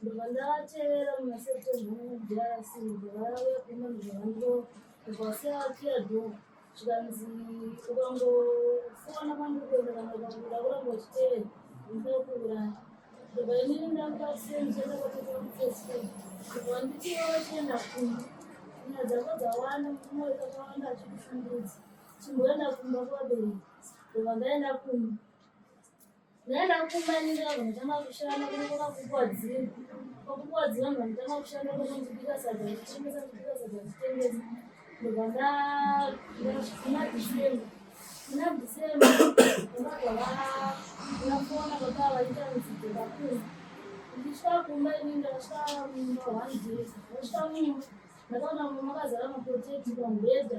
ndobva ndavatevera muna september mudrc ndobva vauya kuno ndobva vando ndobva vasiyakiya dho zvikanzi ukangofona kwandikuenda kana ukakuda kuramba uchitevera ndinokuuraya ndobva inini ndakasenzera kwatekamufesfe ndobva ndichiva vachienda kumba nyaya dzako dzawanda mumwe kakawanda achikushungudza chimboenda kumba kwabereki ndobva ndaenda kumba Nana kumanira vanotanga kushanda kunokoka kupuwa dziri kwakupuwa dziri vanhu vanotanga kushanda kunonzi bika sadza zvichitengesa kubika sadza zvichitengesa ndobva ndaguma dhisemba muna dhisemba ndakabva ndafona baba vaita mudzidzo vakuru ndichisvika kumba ini ndakasvika mumba one day ndakasvika mumba ndakaona mumba makazara mapoteti pamubhedha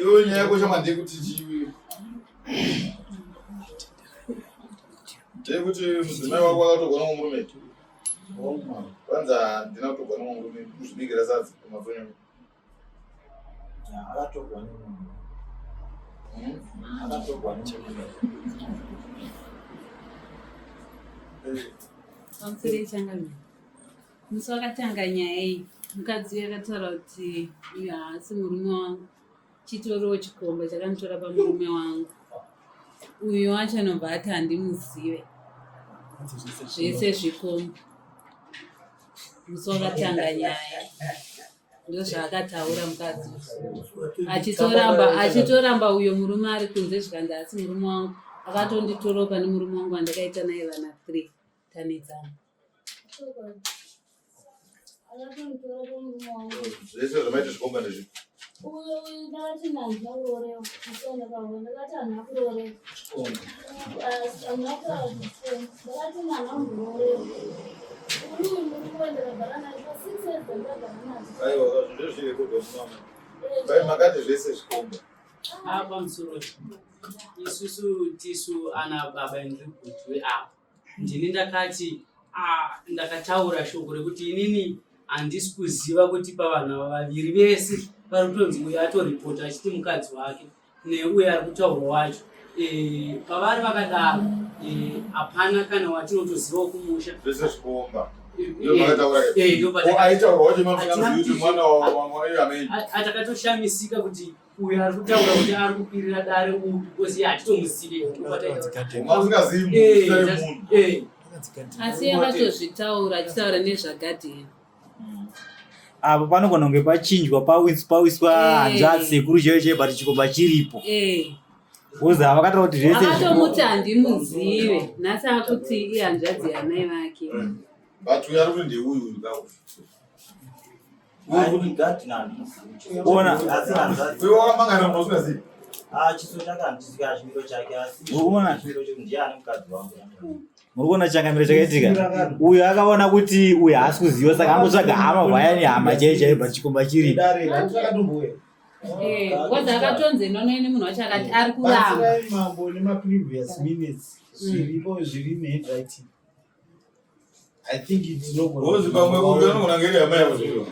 iwe nyaya yako chama ndeyekuti chiwi ndeyekuti mudzimai wako akatogona kumurume kwanza handina kutogona kumurume kuzvibikira sadza kumadzonyama pamusoro changamira musi wakatanga nyaya iyi mukadzi uyu akataura kuti uyu haasi murume wangu chitoriwo chikomba chakanditora pamurume wangu uyo wacho anobva ati handimuzive zvese zvikomba musi wakatanga nyaya ndozvaakataura mukadzi achitoramba achitoramba uyo murume ari kunze zvikanzi asi murume wangu akatonditoroka pane murume wangu andakaita naye vana three tanetsana zvese zvamaita zvikomba ndezvi uyo ndakati nanzva urorewa ndakati anhu akurorewa apa musoro isusu tisu ana baba endri kuti we apa ndini ndakati ndakataura shoko rekuti inini handisi kuziva kuti pavana vaviri vese pari kutonzi uyo atoripota achiti mukadzi wake neuyo ari kutaurwa wacho eh, pavari vakadaro eh, hapana kana watinotozivawo kumusha zvese zvikuomba atakatoshamisika kuti uyo ari kutaura kuti ari kukwirira dare uyu because iye hatitomuzive asi akatozvitaura achitaura nezvagadheni apo panogona kunge pachinjwa pawiswa eh. hanzvadzi sekuru chaiyo chaiyo but chikomba chiripo eh. uza avakataura kuti zvese akatomuti handimuzive nhasi akuti ihanzvadzi yanai vake mm. but uyo ari kuti ndeuyu uyu kakuona muri kuona changamiro chakaitika uyo akaona kuti uyo haasi kuziva saka angotsvaga hama vaya nehama chaiyo chaiyo but chikomba chiri kozi eh, akatonzi inono ini munhu wacho akati ari kuramba mambo nemaprevious minutes mm. zviripo zviri nehandwriting i think it's no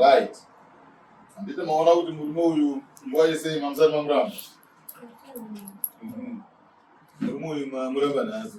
Right. Andite maona kuti murume uyu nguva yese mamusati mamuramba. Murume uyu mamuramba nhasi.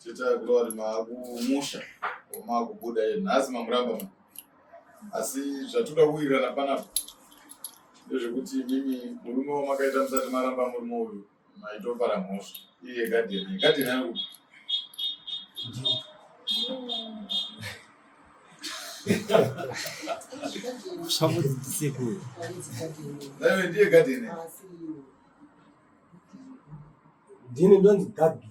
Teta Glory maakumusha maakubuda iye nhasi mamuramba ma asi zvatoda kuwirirana panapa ndezvekuti mimi murume wamakaita musati maramba murume uyu maitopara mhosva iye gadheni gadheni ari kuti naive ndiye gadheni ndini ndonzi gadheni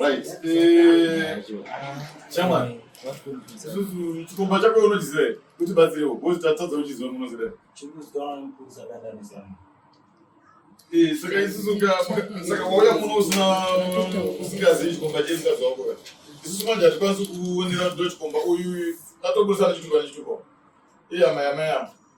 Right. Eh, Chairman. Isusu chikomba chako unochiziva here? Kuti batsirewo. Boss tatadza uchiziva munoziva. Eh, saka isusu ka saka wauya muno usina usingazivi chikomba chedu saka zvako ka. Isusu manje hatikwanisi kuonera ndo chikomba uyu tatoburisana chitupa nechitupa. Iya maya maya.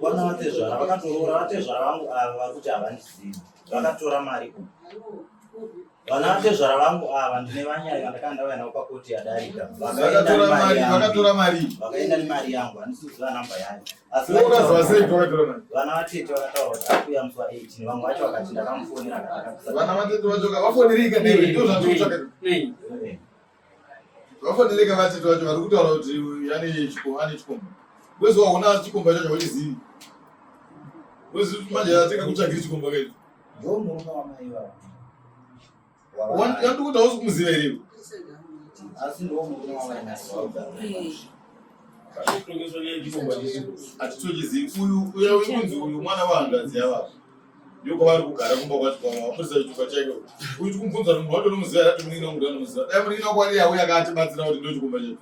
Vana vatezvara vakatoroora vatezvara vangu ava vari kuti havandizivi vakatora mari ku vana vatezvara vangu ava ndine vanyaya vandakanga ndauya navo pakoti yadarika vakatora mari vakaenda nemari yangu handisi kuziva namba yayo asi vana vatete vakataura kuti akuuya musi wa 18 vamwe vacho vakati ndakamufonera kana vana vatete vacho vafonerei kanei ndozvatotsvaka vafanireka vatete vacho vari kutaura kuti yani ane chikomba kwezi waona chikomba chacho vachizivi kwezi manje atenga kutsvagiri chikomba kaii yandikuti hausi kumuziva here iwe hatitochizivi uyu uya wekunzi uyu mwana wahangadzi yavavo Ndiko vari kugara kumba kwacho kwavo vamurisa chitupa chaiko uyu tikumubvunza kuti munhu wacho unomuziva yati munin'ina wangu ndanomuziva dai munin'ina wako ari yauya akatibatsira kuti ndo chikumba chedu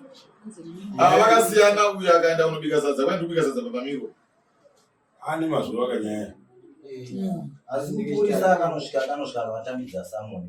ava vakasiyana uyu akaenda kunobika sadza kwai ndikubika sadza papamirwo ane mazuva akanyaya asi mupurisa akanosvika akanosvika akavatambidza samoni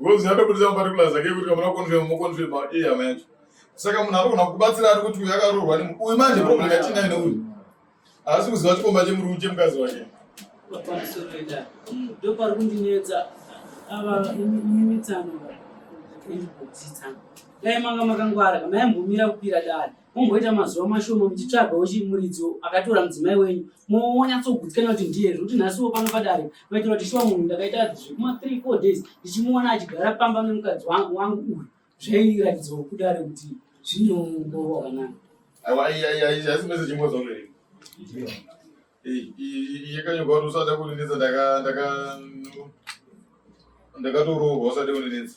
Ngozi anobudisa maparticulars ake kuti kamuna confirm mo confirm iye hama yacho. Saka munhu anogona kubatsira ari kuti uyu akaroorwa ne uyu manje problem yatinayo neuyu. Haasi kuziva chikomba chemurume chemukadzi wake. Pamusoroita. Ndopari kundinetsa ava imitsano. Ndikudzitsa. Dai manga makangwara, kama yambomira kupira dani. Mumboita mazuva mashoma muchitsvaga wechimuridzi akatora mudzimai wenyu monyatsogudzikana kuti ndiye zvekuti nhasiwo pano padare maitira kuti shuwa munhu ndakaita zvekuma three four days ndichimuona achigara pamba nemukadzi wangu uyu zvairatidzawo kudare kuti zvinongorwa kanani yakanyorwa kuti usada kundinetsa ndakatorohwa usade kundinetsa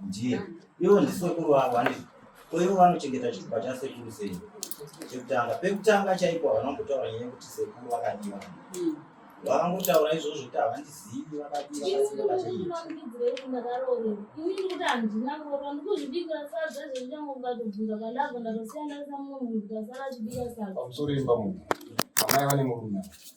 Ndiye. Ivo ndisekuru vangu handizvo. Ko ivo vanochengeta chitupa chasekuru sei? Chekutanga. Pekutanga chaipo havana kumbotaura nyaya yekuti sekuru vakadiwa. Mm. Vakangotaura izvozvo kuti havandizivi vakadiwa vasina vachii. Pamusoro imba munhu. Amai vane murume.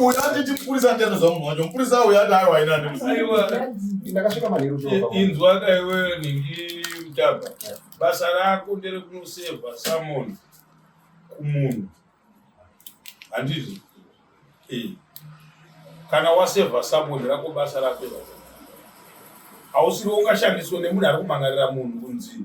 uyu anditi mupurisa andianoziva munhu wacho mupurisa uyu ati aiwa ina ndakasvika manheru inzwa kaiwe ningi mutaba basa rako ndere kunosevha samoni kumunhu handizvo eh. kana wasevha samoni rako basa rako hausiwo ungashandiswa nemunhu ari kumangarira munhu kunzii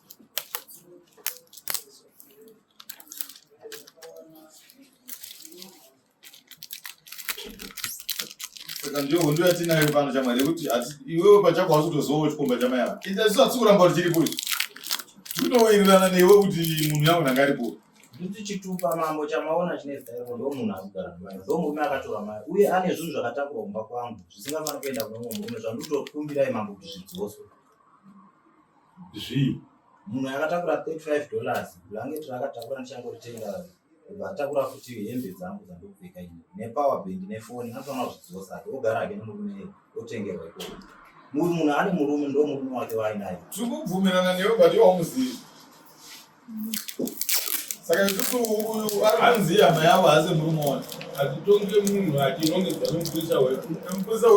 saka ndiyo hondo yatinayo pano chamwari yekuti iwewe pachako hausi kutozowa chikomba chamai ava asi hatisi kuramba kuti chiripo ichi tinowirirana newe kuti munhu yangu nanga aripo kuti chitupa mambo chamaona chine zita rako ndo munhu akugara mai ndo murume akatora mari uye ane zvinhu zvakatakura kumba kwangu zvisingafanira kuenda kune mumwe murume zvanditokumbirai mambo kuti zvidzoswe Zvii? Munhu akatakura 35 dollars blanket raakatakura ndichangoritenga kubva atakura futi hembe dzangu dzandopfeka ini nepower bank nefoni anofanira kuzvidzosa ake ogara hake nemurume otengerwa ikoko munhu ane murume ndo murume wake waainaye tiri kubvumirana newe but iwawo muzivi saka ikuti uyu ari kunzi hama yavo hase muri muona hatitonge munhu atinongedza nomupurisa wemupurisa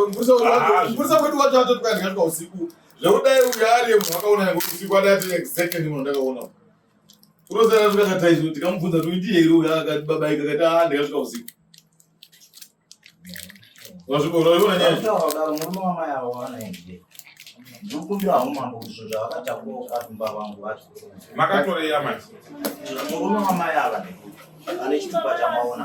wedu wacho atotikandiga tuka usiku zvekudai uyu ariye munhu akaona yange usiku adai ati exactly munhu ndakaona unosana tukakataizo tikamubvunza tuiti here uyu akati babaika kati a ah, ndikasvika usiku ndikumbira umambo kuti zvinhu zvavakatakura ukatumba vangu vacho makatoreya mai murume wamai ava ane chitupa chamaona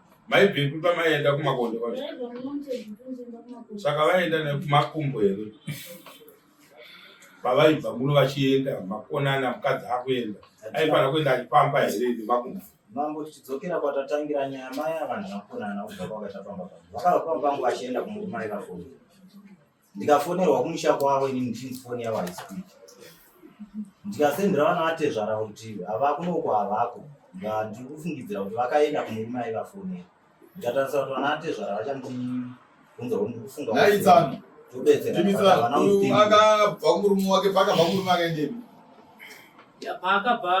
Mai Bhimbi pamaienda kumakondo kwacho. Saka vaienda nekumakumbo here? Pavaibva muno vachienda makonana mukadzi akuenda. Aifana kuenda achipamba here nemakumbo? Mambo tichidzokera kwatatangira nyaya maya vanhu vakonana kubva kwakatapamba. Vakapamba vachienda kumurumai vafoni. ndikafonerwa kumusha kwavo ini ndichinzi foni yavo haisipiki ndikasendera vana vatezvara kuti havakunoko havako ndiri kufungidzira kuti vakaenda kumurume aivafonera ndikatarisa kuti vana vatezvara vachandibvunza kuti ndiri kufunga akabva kumurume wake paakabva kumurume akaendei paakabva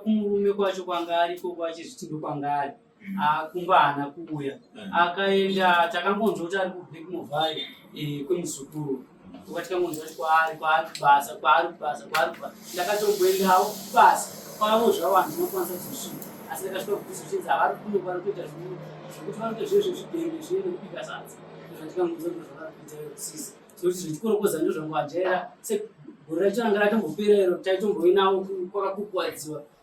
kumurume kwacho kwanga ariko kwachizviti ndokwanga ari Ah, kumba haana kuuya mm. akaenda takangonzwa kuti ari kubrik movai eh, kwemuzukuru uka tikangonzwa kuti kwaari kwaari kubasa kwaari kubasa kwaari kubasa ndakatomboendawo kubasa kwavo zvavo hanzi unokwanisa kuzosvika asi ndakasvika kubvisa chinzi havari kuno vari kuita zvinhu zvekuti vanoita zviye zvezvidhende zviye nekubika sadza zvandikangonzwa kuti zvavari kuita sisi sokuti zvichikorokoza ndozvangu ajaira segore racho ranga ratombopera iro taitomboinawo kwakakukuwadziwa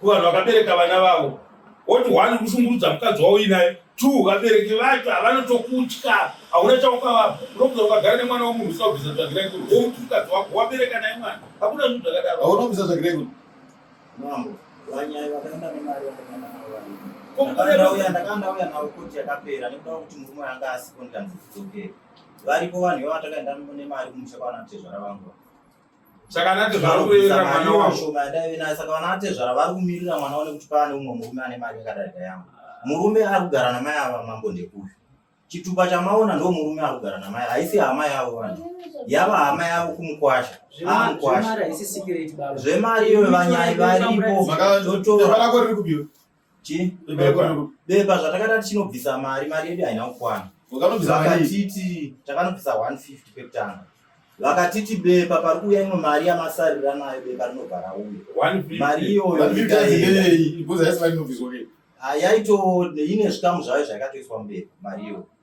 kuvanhu vakabereka vana vavo woti one kushungurudza mukadzi wavo inaye two vabereki vacho havanotokutya hauna chaukavapa unokuza ukagara nemwana wemunhu usina kubvisa tsvagirai kuno womuti mukadzi wako wabereka naye mwana hakuna zvinhu zvakadaro hauna kubvisa tsvagirai kuno mambo vanyaya vakaenda nemari vakaenda navoauya ndakandauya navo koti yakapera nekuda kuti murume anga asiko ndikanzi dzidzokere varipo vanhu ivo vatakaenda nemari kumusha kwaana kutezvara vangu saka anatezvara kumirira mwana wacho saka vanatezvara vari kumirira mwana wavo nekuti paane umwe murume ane mari yakadarika yangu murume ari kugara namai ava mambo ndekuyu chitupa chamaona ndo murume ari kugara namai haisi hama yavo vanhu yava hama yavo kumukwasha amukwasha zvemari iyoyo vanyai varipo chii Bebekwa. bepa zvatakada tichinobvisa mari mari yedu haina kukwana Wakanobvisa mari. vakatiti takanobvisa 150 pekutanga vakatiti bepa pari kuuya imwe mari yamasarira nayo bepa rinobva rauya One fifty. mari iyoyo Vanhu vita ikaenda. zindeyei. Ibvunza yese vainobviswa ke. Ah, yaito ine zvikamu zvayo zvayakatoiswa mubepa mari iyoyo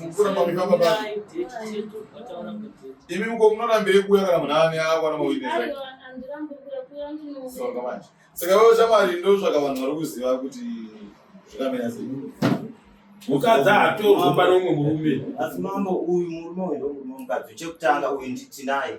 Mukura mami kama ba. Imi mko mnona mbele kuya kana mnani au kana mawine. So kama. Saka wewe chama lindo zvaka vanhu vari kuziva kuti zvikamira zvinhu. Mukadzi atorwa pano umwe murume. Asi mambo uyu murume uyu ndomukadzi chekutanga uyu nditinaye.